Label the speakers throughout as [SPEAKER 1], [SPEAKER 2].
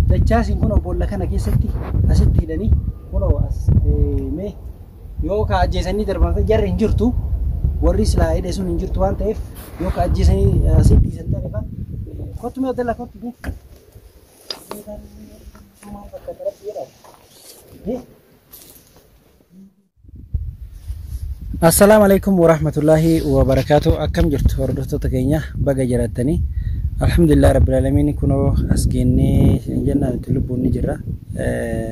[SPEAKER 1] Dachaasiin kun boolla kana keessatti asitti hidhanii kun as mee yoo ka ajjeesanii darban jarri hin jirtu warri silaa hidhe sun hin jirtu waan ta'eef yoo ka ajjeesanii asitti dhiisan ta'e kan kottu mee dalla kottu mee. Maal fakkaata rabbi jedhaa. Assalaamu alaikum warahmatullaahi wabarakaatu akkam jirtu hordoftoota keenya baga jiraatanii alhamdulillah rabbil alamiin kunoo as geennee isin jennaan itti lubbuun ni jirra Eh,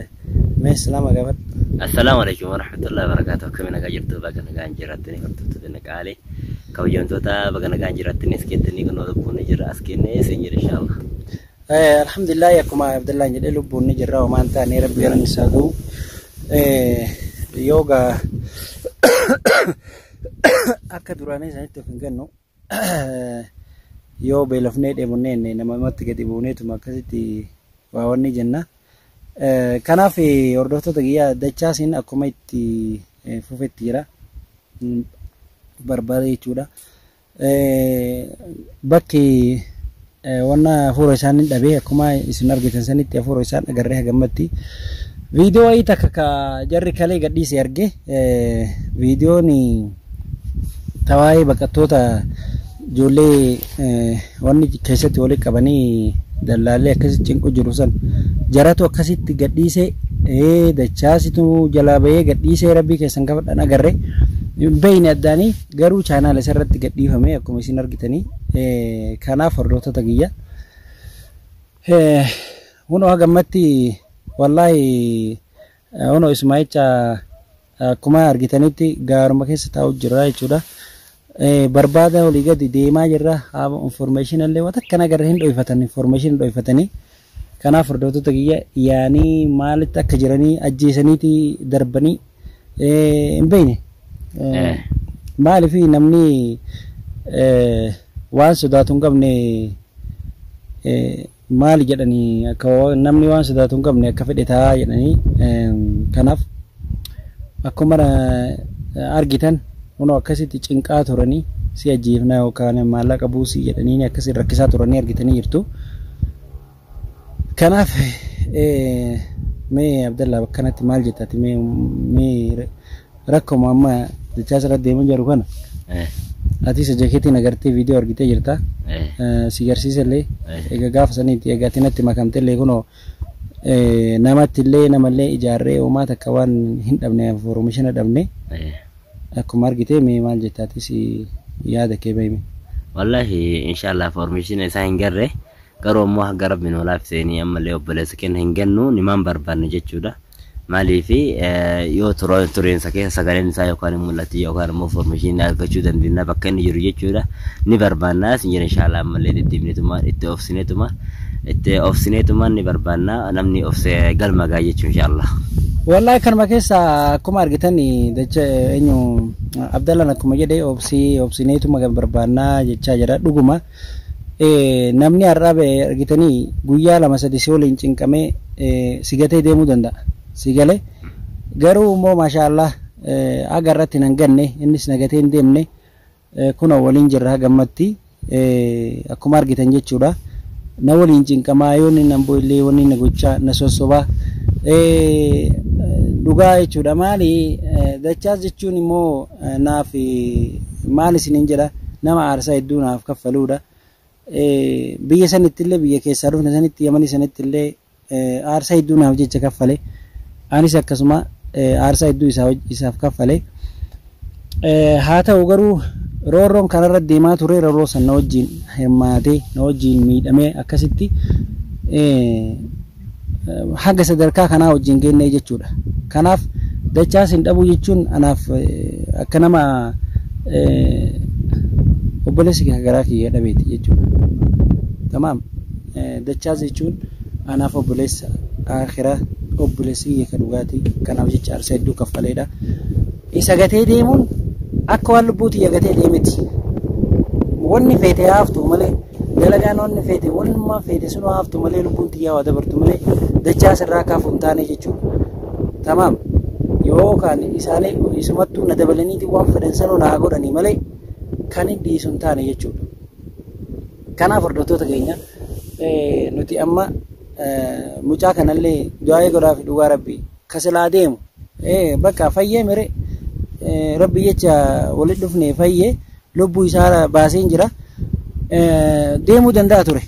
[SPEAKER 1] mee islaama gaafadhu Assalaamu alaikum
[SPEAKER 2] warahmatullahi wabarakaatu akkami nagaa jirtu baga nagaan jirattanii hordoftoota naqaalee kabajamtoota baga nagaan jirattanii as keettanii kunoo lubbuun ni jirra as geennee isin jira inshaallah. Eh, Alhamdulillah
[SPEAKER 1] akkuma Abdullah jedhee lubbuun ni jirra homaa hin taane rabbi galanni isaa ga'u. Eh, Yoo gaa akka duraanii sanitti of hin gannu yoo beelofnee dheebonnee inni nama namatti gadi buuneetuma akkasitti waa wanni jenna. Eh, Kanaaf eh, hordoftoota kiyyaa dachaasiin akkuma itti eh, fufetti jira. Mm, Barbaada jechuudha. Bakki wanna hafuura isaan hin dhabe akkuma isin argitan sanitti hafuura isaan agarree hagammatti. Viidiyoo wayii takka ka jarri kalee gadhiise arge viidiyoon tawaa'ee baqattoota ijoollee wanni keessatti walitti qabanii dallaallee akkasitti cinqu jiru san jaratu akkasitti gadhiise dachaasitu jalaa bahee gadhiisee rabbii keessan gafadhan agarre hin beeyne addaanii. Garuu chaanaala isa irratti gadhiifame akkuma isin argitanii kanaaf hordoftoota kiyya. Hunoo hagammatti wallaahi hunoo Ismaa'icha akkuma argitanitti gaaruma keessa taa'u jirra jechuudha. Barbaada olii gadi deemaa jirra. Information illee waan akka nagarra hin dhoofatan information dhoifatanii Kanaaf hordoftoota kiyya yaanii maalitti akka jiranii ajjeesaniiti darbanii hin beekne. Maaliif namni waan sodaatu hin qabne maali jedhanii akka namni waan sodaatu hin qabne akka fedhe ta'a jedhanii kanaaf akkuma argitan Kunoo akkasitti cinqaa turanii si ajjeefnaa yookaan maallaqa buusii jedhanii akkasiin rakkisaa turanii argitanii jirtu. Kanaaf mee Abdallaa bakka kanatti maal jettaati mee mee rakkoma amma dachaa sirratti deemaa jiru kana ati isa jakeetiin agartee viidiyoo argitee jirta si garsiisa illee egaa gaafa saniitti egaa ati natti makamte illee kunoo namatti illee namallee ijaarree uumaa takka waan hin dhabne fooromishina dhabne Akkuma argitee mee maal jetta atis yaada kee bahime. Wallahi
[SPEAKER 2] inshallah formation isaa hin garre garuu ammoo hanga rabbi nu laafiseenii ammallee obboleessa kenna hin gannu nimaan barbaanne jechuudha. Maaliif yoo tureensa keessa sagaleen isaa yookaan hin mul'atu yookaan ammoo formation argachuu dandeenya bakka inni jiru jechuudha. ni barbaanna isin jedha inshaallaa ammallee deddeebineetumaan itti obsineetumaan itti obsineetumaan ni barbaanna namni obse galma ga'a jechuun inshaallaa. Wallahi kanuma
[SPEAKER 1] keessa akkuma argitan dacha eenyu Abdallaan akkuma jedhe obsii obsineetuma kan barbaannaa jechaa jira dhuguma namni har'aa ba'e argitanii guyyaa lama sadi si waliin cinqamee si gatee deemuu danda'a si galee garuu immoo maashaallah haga irratti nan ganne innis na gatee hin deemne Kunoo waliin jirra haga ammatti akkuma argitan jechuudha. Na waliin cinqamaa yoo inni nan bo'illee wanni na gochaa na sossobaa. Dhugaa jechuudha maali dachaas jechuun immoo naaf maal isiniin jedha nama aarsaa hedduu naaf kaffaluudha. Biyya sanittillee biyya keessaa dhufne sanitti yamanii sanittillee Aarsaa hedduu naaf jecha kaffale. Anis akkasuma aarsaa hedduu isaaf kaffale. Haa ta'u garuu roorroon kanarra deemaa ture roorroo san na wajjin hirmaatee na wajjin miidhamee akkasitti haga sadarkaa kanaa wajjin geennee jechuudha. Kanaaf dachaa sin dhabuu jechuun anaaf akka nama obboleessi kee garaa kiyya dhabeeti jechuudha. Tamaam. Dachaas jechuun anaaf obboleessa aakhiraa obboleessa kiyya ka dhugaati kanaaf jecha aarsaa hedduu kaffaleedha. Isa gatee deemuun akka waan lubbuu tiyya gatee deemeti. Wanni feete haa haftu malee dalagaan wanni feete wannumaa feete sun haa haftu malee lubbuun tiyyaa waa dabartu malee dachaas irraa akka hafu hin taane jechuudha. Tamaam yoo kaan isaanii isumattuu na dabalaniiti waan fedhan sanuu naa godhanii malee kan hin dhiisu hin taane jechuudha. Kanaaf hordoftoota keenya nuti amma mucaa kanallee du'aa'ee godhaafi dhugaa rabbi ka silaa deemu bakka fayyee mire rabbi jecha walitti dhufne fayyee lubbuu isaa baaseen jira deemuu danda'a ture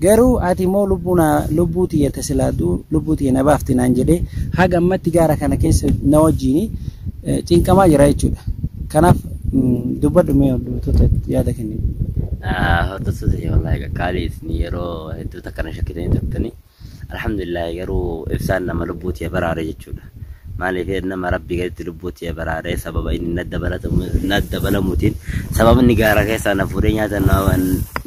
[SPEAKER 1] garuu ati immoo lubbuu naa lubbuu tiyya ta silaa du'u lubbuu tiyya na baafti naan jedhee haga ammatti gaara kana keessa na wajjiin cinqamaa jira jechuudha kanaaf Dubbadhu mee hordoftoota yaada kenni. Hordoftoota
[SPEAKER 2] kee wallaahi qaqqaalii isin yeroo hedduu takka na shakkitanii turtanii. Alhamdulillah garuu ibsaan nama lubbuu tiyya baraare jechuudha. Maaliif nama rabbii gaditti lubbuu tiyya baraare sababa inni na dabalamuutiin sababa inni gaara keessaa na fuudhee nyaata na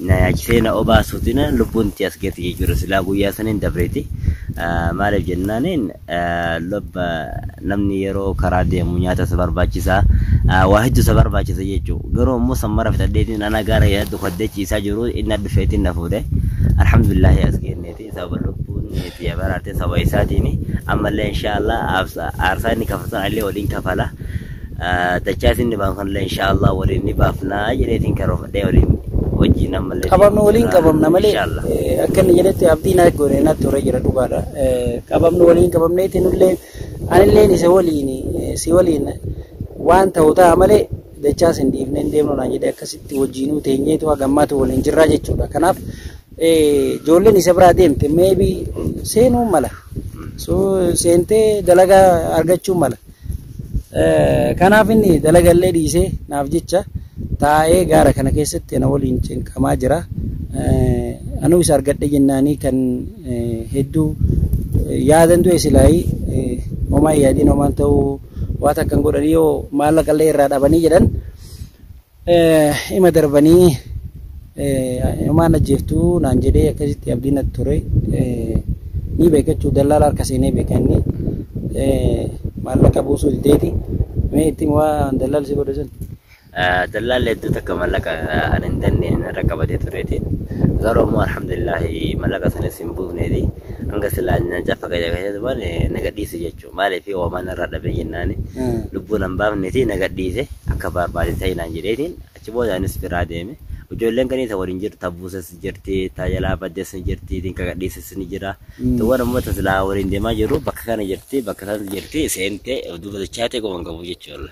[SPEAKER 2] nyaachisee na obaasuutiin lubbuun tiyya as geetti jechuudha. Silaa guyyaa saniin dabreeti. Maaliif jennaan Lubba namni yeroo karaa deemu nyaata isa barbaachisa. Waa hedduu isa barbaachisa jechuudha. Garuu ammoo san mara fixadheetiin ana gaara yaaddu kaddee ciisaa jiru inni dhufeetiin na fuudhe. Alhamdulillaahi as geenneeti sababa lubbuun tiyya baraartee sababa isaatiin ammallee inshaallah aarsaa inni kafaltan anillee waliin kafala. dachaa isin ni baafna kanallee inshaallah waliin ni baafnaa jedheetiin karoofadhee waliin wajjiin ammallee qabamnu deemuuf waliin jira. qabamna
[SPEAKER 1] malee Inshaallah. eh, akka inni jedhetti abdii naa goone naa ture jira dhugaadha Eh, qabamnu waliin qabamneeti nullee anilleen isa waliin eh, si waliin waan ta'u ta'a malee dachaa sin dhiifnee hin deemnu naa jedhe akkasitti wajjiinuu teenyeetu hagammaatu waliin jirraa jechuudha kanaaf eh, ijoolleen isa biraa deemte meebi seenuu mala so seentee dalagaa argachuu mala Kanaaf inni dalagallee dhiisee naaf jecha taa'ee gaara kana keessatti ana waliin cinqamaa jira. Anuu isa argadhe jennaanii kan hedduu yaadan du'e silaayii homaa yaadiin homaan ta'uu waan akkan godhanii yoo maallaqallee irraa dhabanii jedhan Ima darbanii inumaan ajjeeftuu naan jedhee akkasitti abdii natti ture. Ni beekachuu dallaala harka seenee beeka inni maallaqa buusuu dideeti. Mee itti waan dallaalli si godhe sun. Dallaalli
[SPEAKER 2] hedduu takka maallaqa kan hin dandeenye narra qabatee tureeti. Garuu immoo alhamdulillah maallaqa sanis hin buufneeti. Hanga silaa nyaachaa fakkaacha keessatti waan nagadhiisu jechuudha. Maaliif oomaan narraa dhabe jennaan lubbuu nan baafneeti na gadhiise akka baarbaadee ta'i naan jedheetiin achi booda anis biraa deeme. Ijoolleen ganii ta waliin jirtu ta buuses ni jirti ta jalaa baddes ni jirti tin ka gadhiises ni jira. Tuwwan ammoo ta silaa waliin deemaa jirru bakka kana jirti bakka sanatti jirti seentee duuba dachaatee quban qabu jechuudha.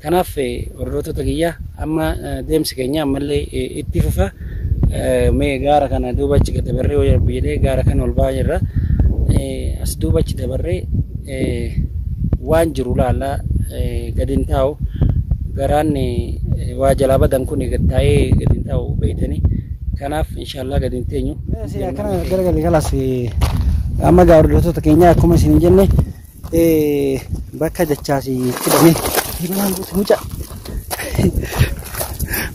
[SPEAKER 1] Kanaaf hordoftoota kiyya amma deemsi keenya ammallee itti fufa. Mee gaara kana duuba achi gad dabarree yoo rabbi jedhee gaara kana ol ba'aa jirra. As duuba achi dabarree waan jiru laallaa gad hin taa'u. Garaan waa jalaa badan kun gad taa'ee gad hin taa'u beektanii. Kanaaf inshaallah gad hin teenyu. Akkana garagalli kalas amma gaa hordoftoota keenya akkuma isin jenne Bakka dachaasi itti dhamee diimanaan guutu muca.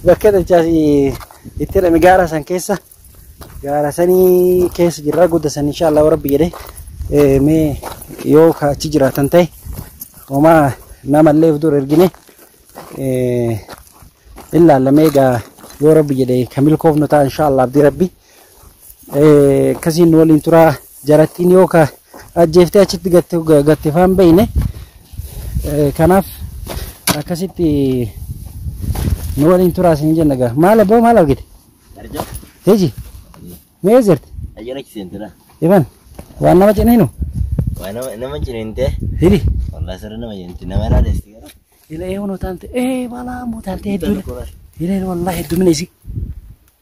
[SPEAKER 1] Bakka dachaasi itti dhame gaara san keessa gaara sanii keessa jirra gudda san inshaallah warabbi jedhe mee yoo ka achi jiraatan ta'e homaa namallee dur ergine illaallamee gaa yoo rabbi jedhe ka milkoofnu ta'a inshaallah abdii rabbi. Akkasiin nu waliin turaa jarattiin yoo ka ajjeeftee achitti gatte faan beeyne kanaaf akkasitti nu waliin turaa siin jenna gaa maal abboo maal argite teji mee jirti Ayyana kiseentira.
[SPEAKER 2] ifan
[SPEAKER 1] waan nama cininu Waa nama nama
[SPEAKER 2] ciniinte. hili Wallah
[SPEAKER 1] sirri nama
[SPEAKER 2] ciniinte. Nama irraa deessi gara. ila ee hunoo taante
[SPEAKER 1] ee balaa moo taante hedduu ila wallahi hedduu mina isi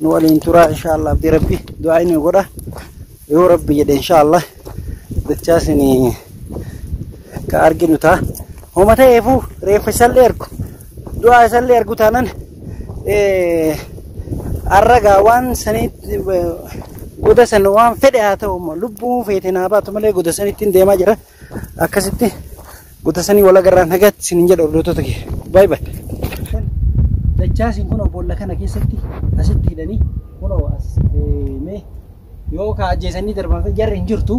[SPEAKER 1] nu waliin turaa inshaallah abdii rabbi du'aa inni godha yoo rabbi jedhe inshaallah dachaas ni ka arginu ta'a homa ta'eefuu reeffa isallee argu du'aa isallee argu taanan arragaa waan saniitti goda san waan fedhe haa ta'u immoo lubbuun feete naa baatu malee goda sanittiin deemaa jira Akkasitti gutasanii wal agarraan nagaatti isiniin jedha hordoftoota kee. Baay baay. Dachaasiin kunoo boolla kana keessatti asitti hidhanii kunoo as mee yoo ka ajjeesanii darban jarri hin jirtu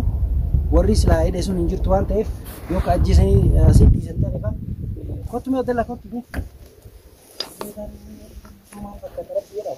[SPEAKER 1] warri silaa hidhe sun hin jirtu waan ta'eef yoo ka ajjeesanii asitti dhiisan ta'e fa kottu mee dala kottu mee. Maal fakkaata rabbi jedhaa.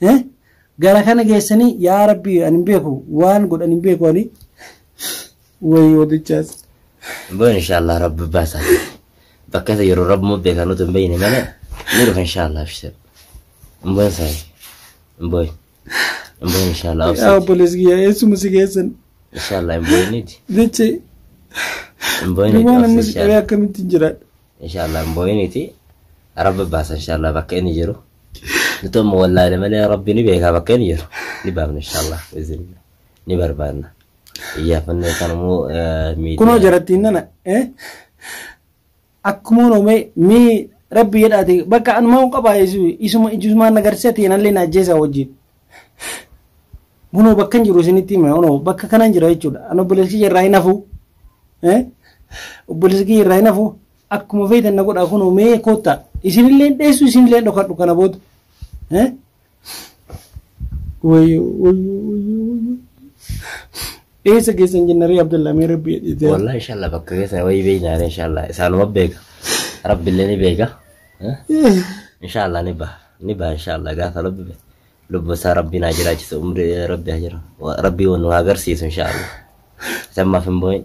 [SPEAKER 1] Eh? Gara kana geessanii yaa rabbii ani hin beeku waan godhan hin beeku ani. Wayi wadichaas. Boon
[SPEAKER 2] inshallah rabbi baasa. Bakka isa yeroo rabbi muu beekan utuu hin beekne malee ni dhufa inshallah abshir. Boon saay. Boon. Boon inshallah Yaa obsee. obboleessi
[SPEAKER 1] kiyyaa eessuma si geessan. Inshallah
[SPEAKER 2] boon niti. Jechi Boon niti duwwaan amma obsee si qabee inshallah. akkamitti hin
[SPEAKER 1] jiraadha. Inshallah boon
[SPEAKER 2] niti. Rabbi baasa inshallah bakka inni jiru. Nuti amma wallaalee malee rabbi ni beekaa bakkee ni jiru. Ni baafna inshaallah. Isin ni barbaanna. Iyyaafannoo kan immoo miidiyaa. kunoo jarattiin nana
[SPEAKER 1] eh? akkuma noome mee rabbi jedhaate bakka anumaa hin qabaa isu- isuma ijumaa nagarsiisa ta'e nallee na ajjeesaa wajjin kunoo bakka hin jiru isinitti hima kunoo bakka kana hin jira jechuudha an obboleessi kiyya irraa hin hafu eh? obboleessi kiyya irraa hin hafu Akkuma feetan na godhaa kunoo mee koottaa. Isinilleen dheessu isinilleen dhokadhu kana booda. Eh? Wayyoo wayyoo wayyoo wayyoo. Dheessa keessan jenna ree Abdallaa mee rabbi jedhee. Wallahi inshallah bakka
[SPEAKER 2] keessa wayii beekna ani inshallah isaanuma beeka. Rabbillee ni beeka. Eh? Inshallah ni baha. Ni baha inshallah gaafa rabbi beeka. Lubbu isaa rabbi naa jiraachisa umri rabbi haa jira. Rabbi nu haa agarsiisu inshallah. Sammaaf hin boo'in.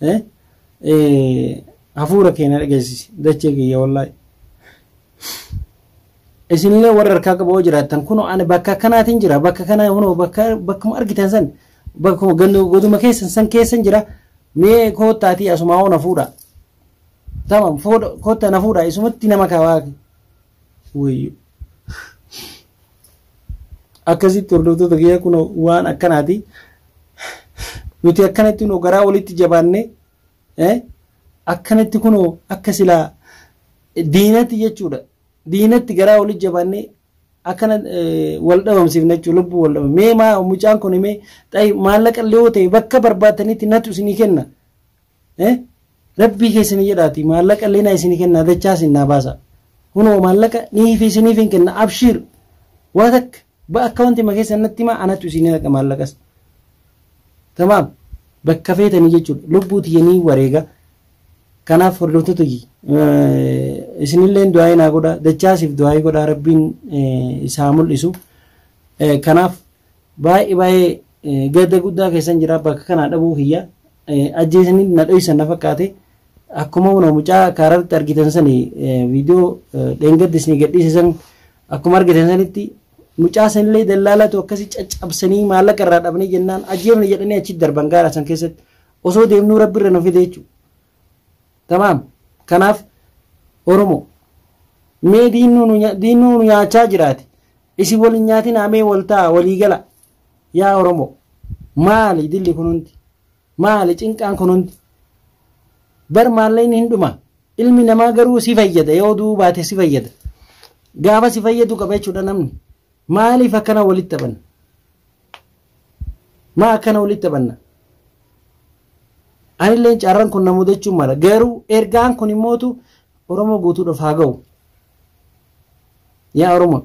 [SPEAKER 1] Eh? Eh, hafuura keenya dhageessisi dachee kiyya wallaahi. Isinillee warra harkaa qaboo jiraattan kunoo ani bakka akkanaatiin jira bakka kanaa kunoo bakka bakkuma argitan san bakkuma gandu goduma keessan san keessan jira mee koottaatii asumaa hoo na fuudha. Tamam fuudha koottaa na fuudha isumatti nama kaawaa. Wayyo. Akkasitti hordoftoota kiyya kun waan akkanaati. Nuti akkanatti kunoo garaa walitti jabaannee eh, akkanatti kunoo akka silaa diinatti jechuudha. Diinatti garaa walitti jabaannee akkana eh, wal dhabamsiifna jechuudha lubbuu wal dhabamsiifna. Mee maa mucaan kun mee xayi maallaqa illee yoo ta'e bakka barbaadanitti natu isinii kenna. eh rabbii keessanii jedhaati maallaqa illee naa isinii kennaa dachaa isin naa baasa hunoo maallaqa nii fi isiniif hin kenna abshiir waa takka ba akkawanti ma keessan natti himaa anatu isinii naqa maallaqas tamaam bakka feetanii jechuudha lubbuu tiyyanii wareega kanaaf hordoftoota kiyya isinillee du'aa'ii naa godha dachaasiif du'aa'ii godha rabbiin isaa mul'isu kanaaf Baay'ee baay'ee gadda guddaa keessan jira bakka kanaa dhabuu kiyya ajjeesanii na dhoysan na fakkaate akkuma una mucaa kaararratti argitan sani viidiyoo dheengaddi isin gadhiise san akkuma argitan sanitti mucaa sanillee dallaalatu akkasii caccabsanii maallaqa irraa dhabnee jennaan ajjeefne jedhanii achi darban gaara san keessatti osoo deemnuu rabbi irra nu fide jechuudha. Tamaam kanaaf Oromoo mee diinuu nu nyaachaa jiraate Isin wal hin nyaatinaa mee wal ta'a walii gala yaa Oromoo maali dilli kun hundi maali cinqaan kun hundi bar maalleen hin dhuma ilmi namaa garuu si fayyada yoo du'uu baate si fayyada gaafa si fayyadu qaba jechuudha namni maaliif akkana walitti taphanna maa akkana walitti taphanna anilleen carran kun na mudachuu mala garuu ergaan kun immootu Oromoo guutuudhaaf haa ga'u. Yaa Oromoo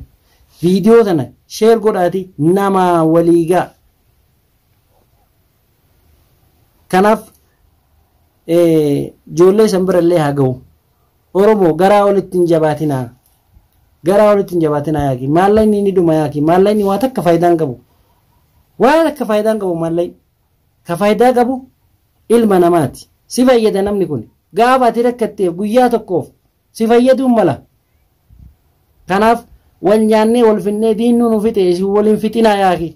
[SPEAKER 1] viidiyoo tana sheer godhaati namaa walii gaa. Kanaaf ijoollee san bira illee haa gahu. Oromoo garaa olitti hin jabaatinaa. Garaa olitti hin jabaatinaa yaaki. Maallaqni ni dhuma yaaki. Maallaqni waa takka faayidaa hin qabu. Waa takka faayidaa hin qabu maallaqni. Ka faayidaa qabu ilma namaati. Si fayyada namni kun. Gaafa ati rakkatteef guyyaa tokkoof si fayyaduu mala. Kanaaf wal nyaannee wal finnee diinnuu nu fixe isin wal hin fixinaa yaaki.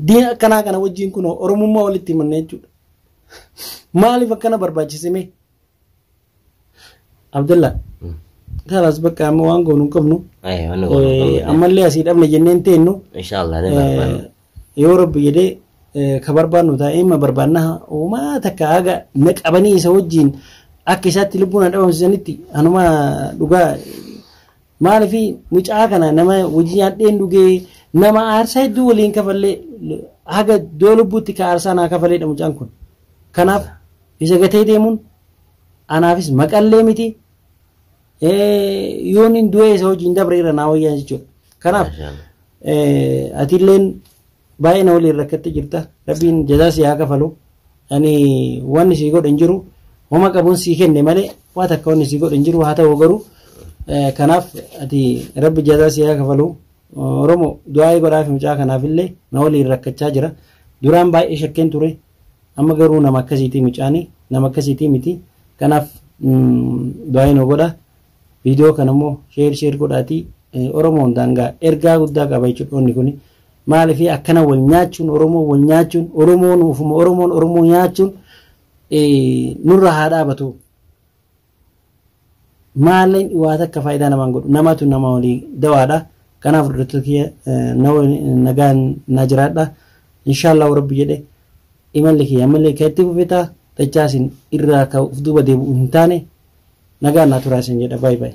[SPEAKER 1] Diina akkanaa kana wajjin kun Oromummaa walitti himanna jechuudha. Maaliif akkana barbaachise mee? Abdalla. Kaalaas bakka amma waan goonu hin qabnu. Ayi wanni goonu hin qabnu. Ammallee asii dhabne jenneen teennu. Inshaallah ni
[SPEAKER 2] barbaanna. Yoo rabbi
[SPEAKER 1] jedhee ka barbaannu taa'ee ma barbaanna uumaa takka haga na qabanii isa wajjin akka isaatti lubbuun na dhabamsiisanitti anuma dhugaa maaliif mucaa kana nama wajjin nyaadheen dhugee nama aarsaa hedduu waliin kafallee haga doo lubbuutti ka aarsaa naa kafaleedha mucaan kun. Kanaaf Isa gatee deemuun anaafis maqallee miti. Yoon hin du'ee isa hojiin dabre irra naa wayyaa jechuudha. Kanaaf atilleen baay'ee na waliin rakkattee jirta. Rabbiin jazaa si haa kafalu. Ani waan si godhe hin jiru. Homa qabuun si kenne malee waa takka waan si godhe hin jiru haa ta'u garuu kanaaf ati rabbi jazaa si haa kafalu. Oromoo du'aa godhaaf mucaa kanaafillee na waliin rakkachaa jira. Duraan baay'ee shakkeen ture. Amma garuu nama akkasiitii mucaani nama akkasiitii miti kanaaf du'aayi nu godha viidiyoo kana immoo sheer sheer godhaatii oromoo hundaan gaa ergaa guddaa qaba jechuudha dhoonni kuni maaliif akkana wal nyaachuun oromoo wal nyaachuun oromoon ofuma oromoon oromoo nyaachuun nurra haa dhaabatu. Maalleen waa takka faayidaa namaan godhu namatu nama walii dawaadha. Kanaaf hordoftoota kiyya nagaan naa jiraadha. Inshaallahu rabbi jedhe imalli kiyya ammallee kan itti fufe ta'a. Dachaasin irraa kan of duuba deebi'u hin taane nagaan naa turaa isin jedha baay baay.